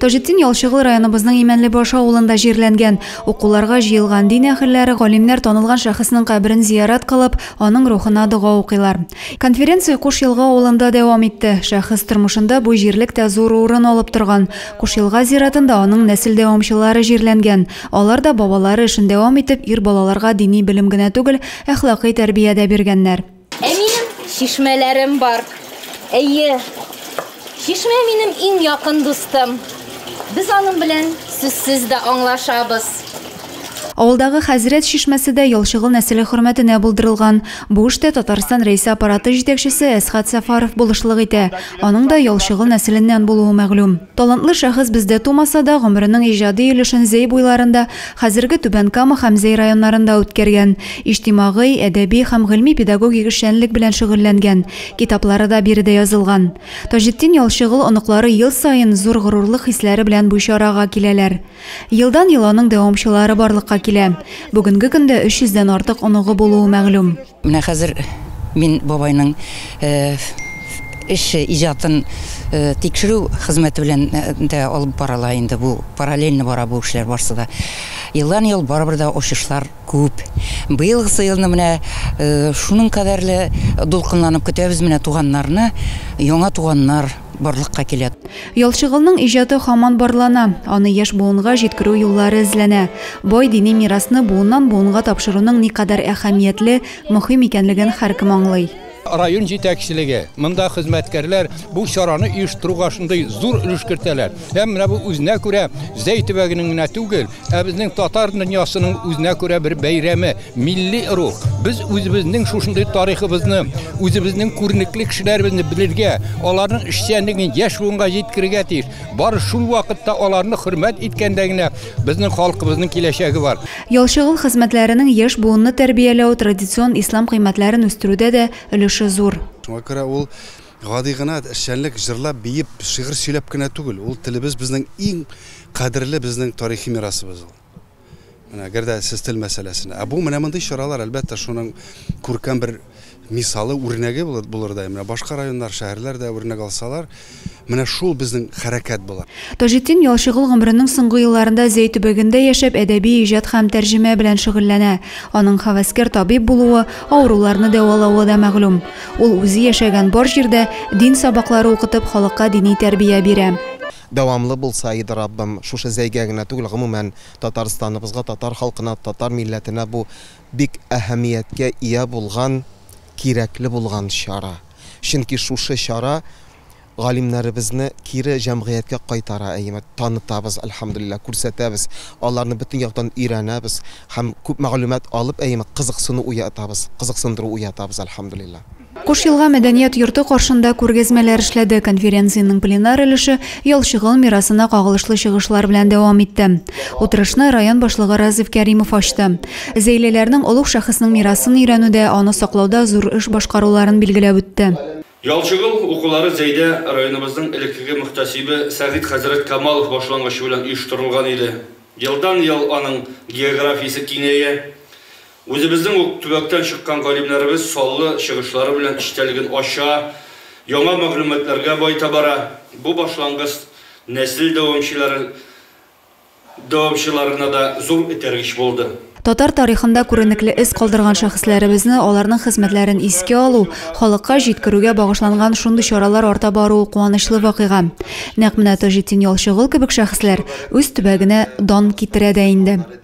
Таҗетдин Ялчыгыл районыбызның Имәнлебаш авылында җирләнгән. Укуларга җыелган дин әһелләре, галимнәр танылган шәхеснең каберен зиярат кылып, аның рухына дога укыйлар. Конференция Куш Елга авылында дәвам итте. Шәхес тормышында бу җирлек тә зур урын алып торган. Куш Елга зиратында аның нәсел дәвамчылары җирләнгән. Алар да бабалары эшен дәвам итеп, ир балаларга дини белем генә түгел, әхлакый тәрбия дә биргәннәр. Ә минем чишмәләрем бар. Әйе, чишмә минем иң якын дустым. Без аның белән сүзсез дә аңлашабыз. Авылдагы хәзрәт чишмәсе дә Ялчыгыл нәселе хөрмәтенә булдырылган. Бу эштә Татарстан Рәисе аппараты җитәкчесе Әсхат Сәфаров булышлык итә. Аның да Ялчыгыл нәселеннән булуы мәгълүм. Талантлы шәхес бездә тумаса да, гомеренең иҗади өлешен Зәй буйларында, Хәзерге Түбән Кама һәм Зәй районнарында үткәргән, иҗтимагый, әдәби һәм гыйльми-педагогик эшчәнлек белән шөгыльләнгән, китаплары да биредә язылган. Таҗетдин Ялчыгол оныклары ел саен зур горурлык хисләре белән бу чарага киләләр. Елдан-ел аның дәвамчылары барлыкка килә. Бүгенге көндә 300 дән артык оныгы булуы мәгълүм. Менә хәзер мин бабайның эше, иҗатын тикшерү хезмәте белән дә алып барыла инде бу, параллельно бара бу эшләр барсы да. Елдан-ел барыбер дә очышлар күп. Быелгысы елны менә шуның кадәрле дулкынланып көтәбез менә туганнарны, яңа туганнар. барлыкка килә. Ялчыгылның иҗаты һаман барлана, аны яшь буынга җиткерү юллары эзләнә. Бай дини мирасны буыннан-буынга тапшыруның никадәр әһәмиятле, мөһим икәнлеген һәркем аңлый. Район җитәкчелеге, монда хезмәткәрләр бу чараны оештыруга шундый зур өлеш кертәләр. Һәм менә бу үзенә күрә Зәй төбәгенең генә түгел, Ә безнең татар дөньясының үзенә күрә бер бәйрәме, милли рух. Без үзебезнең шушындый тарихыбызны, үзебезнең күренекле кешеләребезне белергә, аларның эшчәнлеген яшь буынга җиткерергә тиеш. Бары шул вакытта аларны хөрмәт иткәндә генә безнең халкыбызның киләчәге бар. Ялчыгыл хезмәтләренең яшь буынны тәрбияләү, традицион ислам кыйммәтләрен үстерүдә дә өлеше зур. Шуңа күрә ул гади гына эшчәнлек, җырлап, биеп, шигырь сөйләп кенә түгел. Ул телебез безнең иң Кадерле безнең тарихи мирасыбыз ул. Менә әгәр дә сез тел мәсьәләсенә. Ә бу менә мондый чаралар, әлбәттә, шуның күркәм бер мисалы, үрнәге булырдай. Менә башка районнар, шәһәрләр дә үрнәк алсалар, менә шул безнең хәрәкәт була. Таҗетдин Ялчыгол гомеренең соңгы елларында Зәй төбәгендә яшәп, әдәби иҗат һәм тәрҗемә белән шөгыльләнә. Аның һәвәскәр табиб булуы, авыруларны дәвалавы да мәгълүм. Ул үзе яшәгән бар җирдә дин сабаклары укытып, халыкка дини тәрбия бирә. Дәвамлы булса иде, Раббым, шушы зәйгә генә түгел, гомумән, Татарстаныбызга, татар халкына, татар милләтенә бу бик әһәмияткә ия булган, кирәкле булган чара. Чөнки шушы чара галимнәребезне кире җәмгыятькә кайтара, әйеме, танытабыз, әлхәмдүлилләһ, күрсәтәбез, аларны бөтен яктан өйрәнәбез һәм күп мәгълүмат алып, әйеме, кызыксыну уятабыз, кызыксындыру уятабыз, әлхәмдүлилләһ. Куш Елга мәдәният йорты каршында күргәзмәләр эшләде, конференциянең пленар өлеше Ялчыгол мирасына кагылышлы чыгышлар белән дәвам итте. Утырышны район башлыгы Разиф Кәримов ачты. Зәйлеләрнең олуг шәхеснең мирасын өйрәнүдә, аны саклауда зур эш башкаруларын билгеләп үтте. Ялчыгол укулары Зәйдә районыбызның элеккеге мөхтәсибе Сәгыйть хәзрәт Камалов башлангычы белән оештырылган иде. Елдан-ел аның географиясе киңәя. Үзебезнең үк төбәктән чыккан галимнәребез саллы чыгышлары белән эчтәлеген ача, яңа мәгълүматларга баета бара. Бу башлангыц нәсел дәвамчылары дәвамчыларына да зур этәргеч булды. Татар тарихында күренекле эз калдырган шәхесләребезне, аларның хезмәтләрен искә алу, халыкка җиткерүгә багышланган шундый чаралар арта баруы куанычлы вакыйга. Нәкъ менә Таҗетдин Ялчыгол кебек шәхесләр үз төбәгенә дан китерә дә инде.